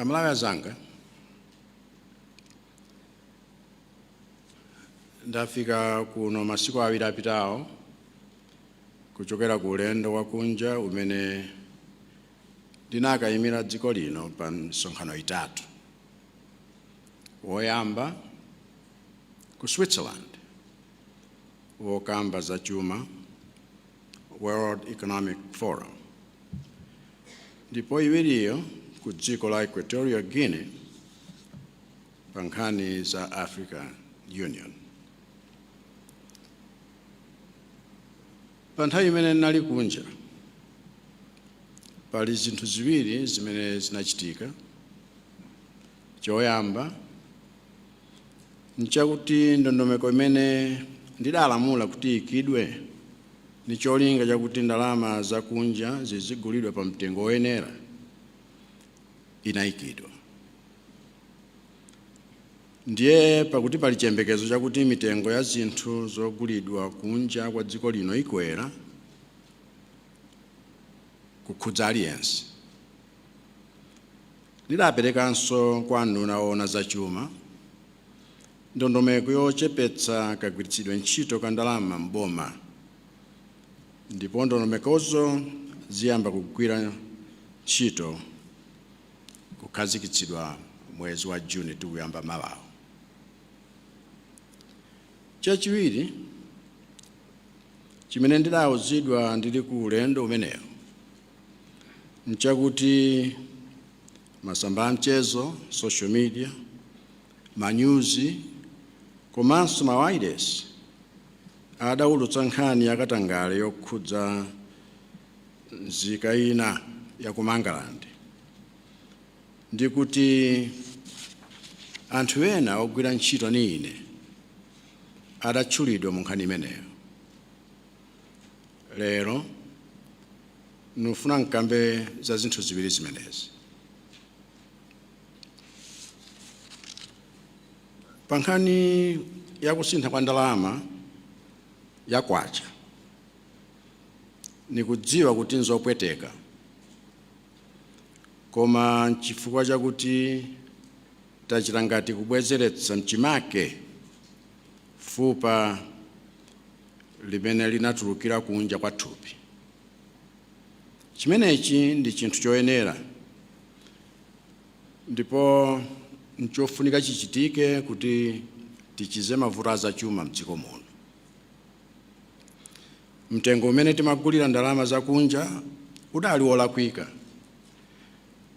amalawi azanga ndafika kuno masiku awiri apitawo kuchokera ku ulendo wakunja umene ndinakayimira dziko lino pa misonkhano itatu woyamba ku switzerland wokamba za chuma World Economic Forum ndipo iwiriyo ku dziko la Equatorial Guinea pa nkhani za African Union. Pa nthawi imene ndinali kunja pali zinthu ziwiri zimene zinachitika Choyamba, nchakuti ndondomeko imene ndidalamula kuti iikidwe ndi cholinga chakuti ndalama zakunja zizigulidwa pa mtengo woyenera inaikidwa. Ndiye pakuti pali chiyembekezo chakuti mitengo ya zinthu zogulidwa kunja kwa dziko lino ikwera, kukhudza aliyense. Ndidaperekanso kwa nduna oona za chuma ndondomeko yochepetsa kagwiritsidwe ntchito ka ndalama m'boma ndipo ndondomekozo ziyamba kugwira ntchito kukhazikitsidwa mwezi wa Juni tikuyamba mawawu. Chachiwiri chimene ndidawuzidwa ndili ku ulendo umenewu nchakuti masamba a mchezo, social media, manyuzi komanso mawailesi adaulutsa nkhani yakatangale yokhudza nzika ina ya ku Mangalande ndi kuti anthu ena ogwira ntchito ni ine adatchulidwa mu nkhani imeneyo. Lero, ndikufuna nkambe za zinthu ziwiri zimenezi. Pa nkhani ya kusintha kwa ndalama ya kwacha, nikudziwa kuti nzopweteka, koma nchifukwa chakuti tachita ngati kubwezeretsa mchimake fupa limene linatulukira kunja kwa thupi. Chimenechi ndi chinthu choyenera ndipo nchofunika chichitike kuti tichize mavuto azachuma m'dziko muno. Mtengo umene timagulira ndalama zakunja udali wolakwika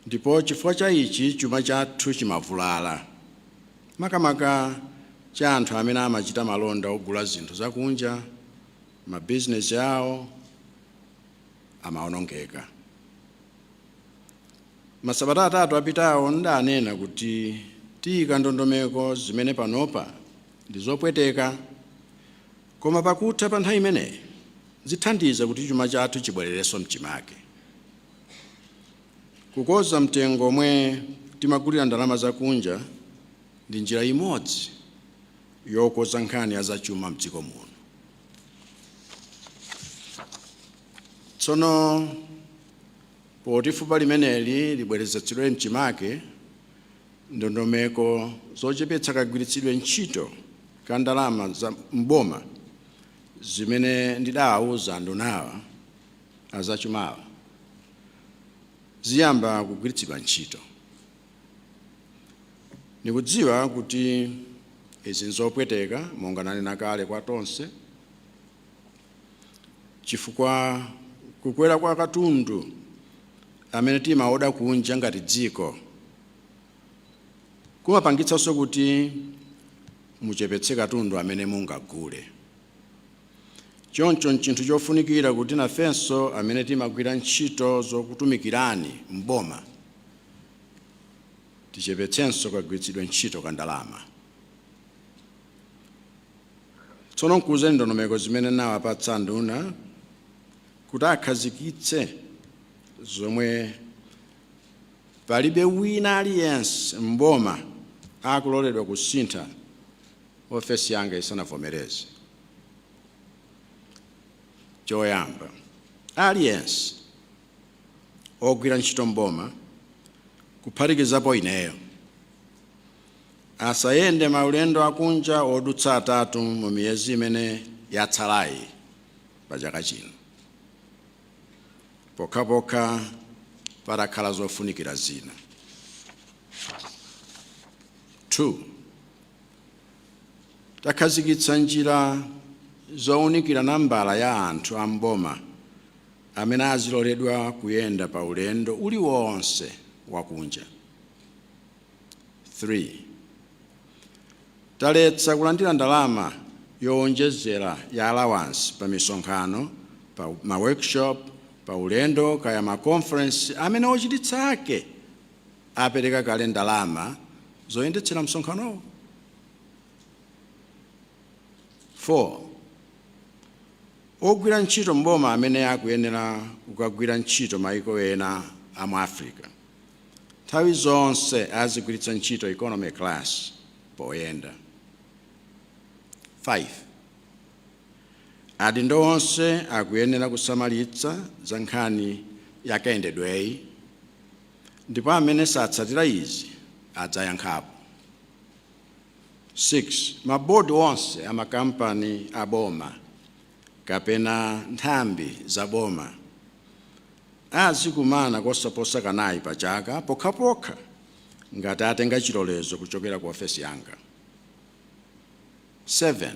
ndipo chifukwa cha ichi chuma chathu chimavulala. makamaka cha anthu amene amachita malonda ogula zinthu zakunja, mabizinesi awo amawonongeka. Masabata atatu apitawo ndanena kuti tiyika ndondomeko zimene panopa ndi zopweteka koma pakutha pa nthawi imeneyi zithandiza kuti chuma chathu chibwererenso m'chimake. Kukoza mtengo omwe timagulira ndalama zakunja ndi njira imodzi yokoza nkhani ya zachuma mdziko muno. Tsono poti fupa limeneli libwerezetsedwe mchimake, ndondomeko zochepetsa kagwiritsidwe ntchito ka ndalama za m'boma zimene ndidaawuza ndunawa, a zachumawa ziyamba kugwiritsidwa ntchito. Ndikudziwa kuti izi nzopweteka monga nanena kale kwa tonse chifukwa kukwera kwa katundu amene timaoda kunja ngati dziko kumapangitsanso kuti muchepetse katundu amene mungagule. Choncho n'chinthu chofunikira kuti nafenso amene timagwira ntchito zokutumikirani m'boma tichepetsenso kagwiritsidwe ntchito ka ndalama. Tsono n'kuwuze ndondomeko zimene nawapatsa nduna kuti akhazikitse zomwe palibe wina aliyense m'boma akuloledwa kusintha ofesi yanga isanavomereze. Choyamba, aliyense ogwira ntchito m'boma kuphatikizapo ineyo asayende maulendo akunja odutsa atatu mu miyezi imene yatsalayi pa chaka chino pokhapokha patakhala zofunikira zina. 2. Takhazikitsa njira zounikira nambala ya anthu a m'boma amene aziloledwa kuyenda pa ulendo uliwonse wakunja. 3, Taletsa kulandira ndalama yowonjezera ya alawansi pa misonkhano, pa ma workshop, pa ulendo kaya ma conference amene ochititsa ake apereka kale ndalama zoyendetsera msonkhanowo. 4 Ogwira ntchito m'boma amene akuyenera kukagwira ntchito mayiko ena a mu Africa nthawi zonse azigwiritsa ntchito economy class poyenda. 5 Adindo onse akuyenera kusamalitsa za nkhani ya kayendedweyi ndipo amene satsatira izi adzayankhapo. 6, Mabodi onse a makampani a boma kapena nthambi za boma azikumana kosaposa kanayi pa chaka pokhapokha ngati atenga chilolezo kuchokera ku ofesi yanga. 7,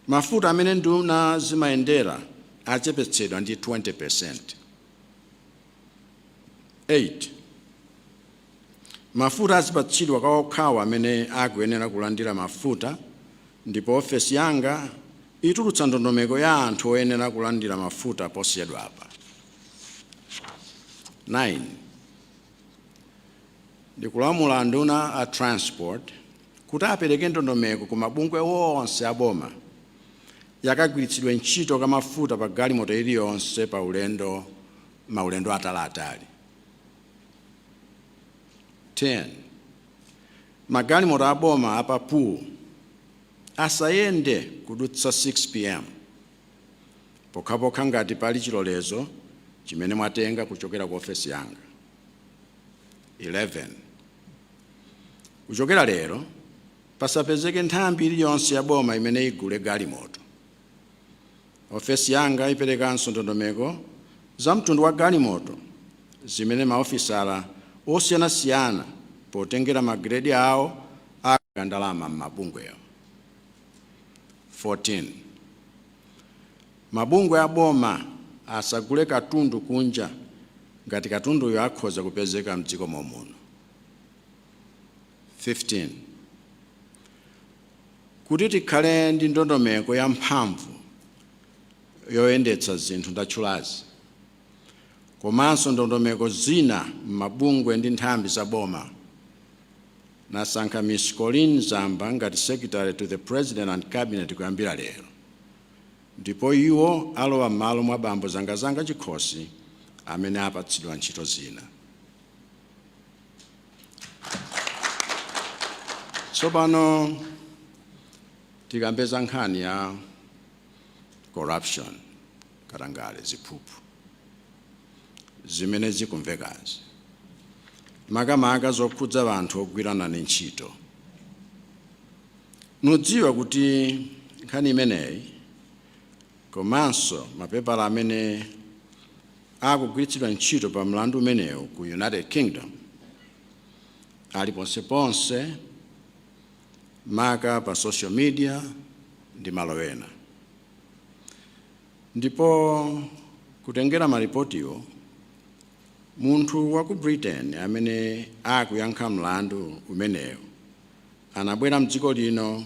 Mafuta amene nduna zimayendera achepetsedwa ndi 20%. 8. Mafuta azipatsidwa kwa okhawo amene akuyenera kulandira mafuta ndipo ofesi yanga itulutsa ndondomeko ya anthu oyenera kulandira mafuta posachedwapa. 9. Ndikulamula anduna a Transport kuti apereke ndondomeko ku mabungwe onse a boma ya kagwiritsidwe ntchito ka mafuta pa galimoto iliyonse pa maulendo ataliatali. 10. Magalimoto a boma a pa pool asayende kudutsa 6 pm pokhapokha ngati pali chilolezo chimene mwatenga kuchokera ku ofesi yanga. 11. Kuchokera lero, Pasapezeke nthambi iliyonse ya boma imene igule galimoto. Ofesi yanga iperekanso ndondomeko za mtundu wa galimoto zimene maofisala osiyanasiyana potengera magiredi awo aika ndalama m'mabungwewo. 14, Mabungwe a boma asagule katundu kunja ngati katunduyo akhoza kupezeka m'dziko momuno. 15 kuti tikhale ndi ndondomeko ya mphamvu yoyendetsa zinthu ndatchulazi komanso ndondomeko zina m'mabungwe ndi nthambi za boma ndasankha Ms. Colleen Zamba ngati secretary to the president and cabinet kuyambira lero ndipo iwo alowa m'malo mwa bambo zangazanga chikhosi amene apatsidwa ntchito zina Tsopano tikambe za nkhani ya corruption katangale ziphuphu zimene zikumvekazi makamaka zokhudza anthu ogwira nane ntchito ndudziwa kuti nkhani imeneyi komanso mapepala amene akugwiritsidwa ntchito pa mlandu umenewu ku United Kingdom ali ponseponse, maka pa social media ndi malo ena. Ndipo kutengera malipotiwo, munthu wa ku Britain amene akuyankha mlandu umenewu anabwera m'dziko lino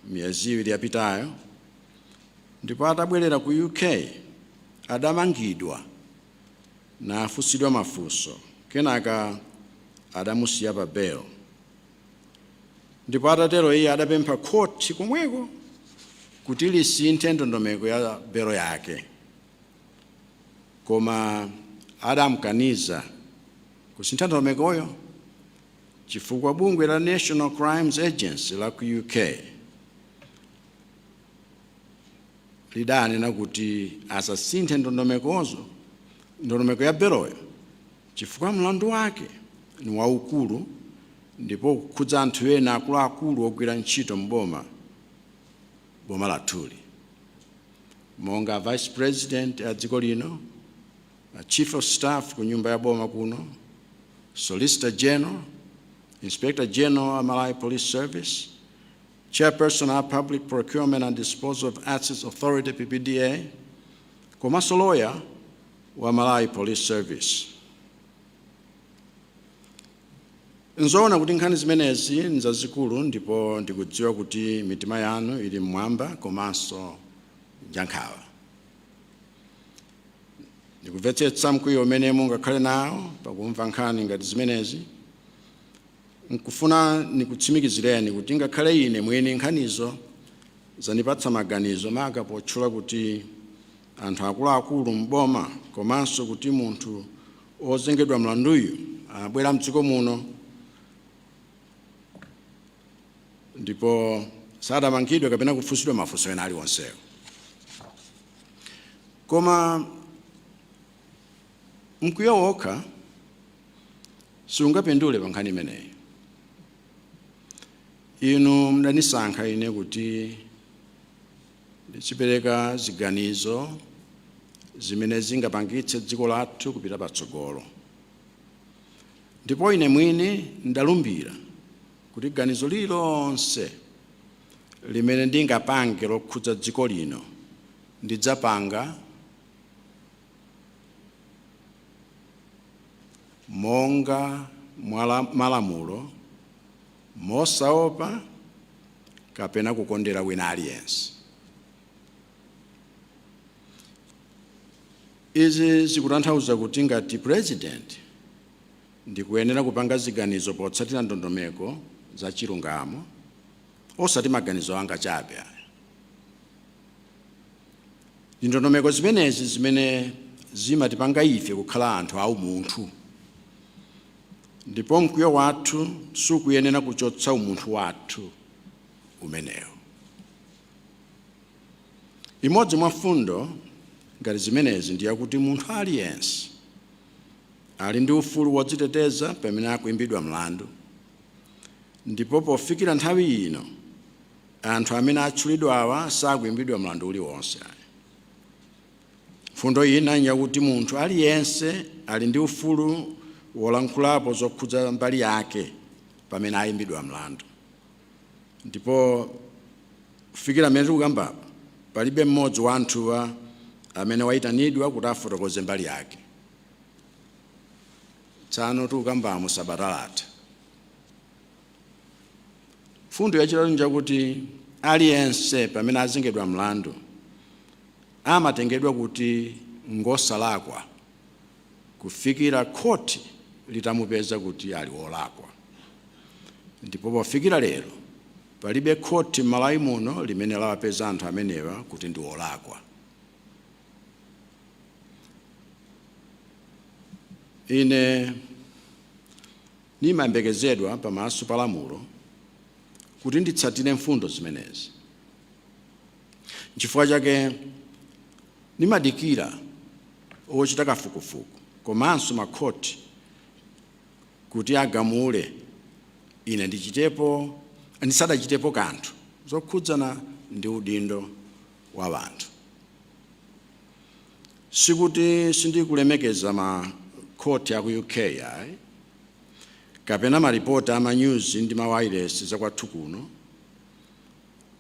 miyezi iwiri yapitayo ndipo atabwerera ku UK adamangidwa nafunsidwa mafunso kenaka adamusiya pa belo ndipo atatero iye adapempha khothi komweko kuti lisinthe ndondomeko ya belo yake koma adamkaniza kusintha ndondomekoyo chifukwa bungwe la National Crimes Agency la ku UK lidanena kuti asasinthe ndondomeko ya beloyo chifukwa mlandu wake ni waukulu ndipo ukukhudza anthu ena akuluakulu ogwira ntchito m'boma boma lathuli monga a vice president a dziko lino chief of staff ku nyumba ya boma kuno solicitor general inspector general a malawi police service Chairperson a Public Procurement and Disposal of Assets Authority, PPDA, komanso loya wa Malawi Police Service. Nzoona kuti nkhani zimenezi nzazikulu ndipo ndikudziwa kuti mitima yanu ili mmwamba komanso njankhawa. Ndikumvetsetsa mkwiyo umene mungakhale nawo pakumva nkhani ngati zimenezi, N'kufuna nikutsimikizileni kuti ngakhale ine mwini nkhanizo zanipatsa maganizo, maka potchula kuti anthu akulu-akulu m'boma komanso kuti munthu wozengedwa mlanduyu abwera m'dziko muno ndipo sadamangidwe kapena kufunsidwa mafunso ena aliwonsewo. Koma Mkwiyo wokha sikungapindule pa nkhani imeneyi. Inu mudanisankha ine kuti ndizipereka ziganizo zimene zingapangitse dziko lathu kupita patsogolo. Ndipo ine mwini ndalumbira kuti ganizo lililonse limene ndingapange lokhudza dziko lino ndidzapanga monga mwa malamulo mosaopa kapena kukondera wina aliyense izi zikutanthauza kuti ngati president ndikuyenera kupanga ziganizo potsatira ndondomeko za chilungamo osati maganizo anga chabe Ndi ndondomeko zimenezi zimene zimatipanga ife kukhala anthu a umunthu, ndipo mkwiyo wathu sukuyenera kuchotsa umunthu wathu umenewo. Imodzi mwa mfundo ngati zimenezi ndi yakuti munthu aliyense ali ndi ufulu wodziteteza pamene akuimbidwa mlandu, ndipo pofikira nthawi ino, Anthu amene atchulidwawa sakuimbidwa mlandu uliwonse ayi. Mfundo ina n'njakuti munthu aliyense ali ndi ufulu wolankhulapo zokhudza mbali yake pamene aimbidwa mlandu. Ndipo kufikira pamene tikukambapo, palibe mmodzi wa anthuwa amene waitanidwa kuti afotokoze mbali yake. Tsano tikukambamo sabata latha. Mfundo yachitatu njakuti aliyense pamene azengedwa mlandu amatengedwa kuti ngosalakwa kufikira khoti litamupeza kuti ali wolakwa. Ndipo pofikira lero palibe khoti m'Malawi muno limene lawapeza anthu amenewa kuti ndi olakwa. Ine Nimayembekezedwa pamaso pa lamulo kuti nditsatire mfundo zimenezi. N'chifukwa chake nimadikira ochita kafukufuku komanso makhoti kuti agamule ine ndichitepo, ndisadachitepo kanthu zokhudzana ndi udindo wa wanthu. Sikuti sindikulemekeza ma court aku UK ayi, kapena maripoti ama nyuzi ndi ma wailesi za kwathu kuno,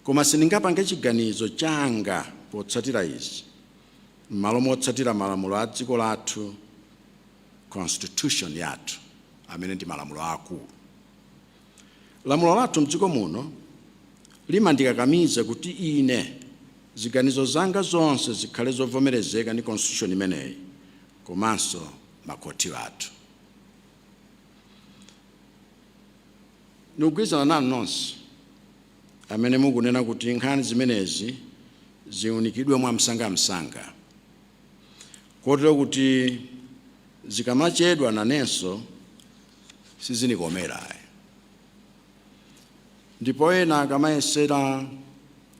koma sindingapange chiganizo changa potsatira izi m'malo motsatira malamulo a dziko lathu, constitution yathu, amene ndi malamulo aakulu. Lamulo lathu mdziko muno limandikakamiza kuti ine ziganizo zanga zonse zikhale zovomerezeka ndi constitution imeneyi komanso makhothi athu. Nikugwirizana nanu nonse amene mukunena kuti nkhani zimenezi ziunikidwe mwamsangamsanga kotero kuti zikamachedwa nanenso sizinikomera ayi ndipo ena akamayesera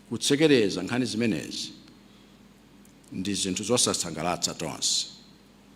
kutsekereza nkhani zimenezi ndi zinthu zosasangalatsa tonse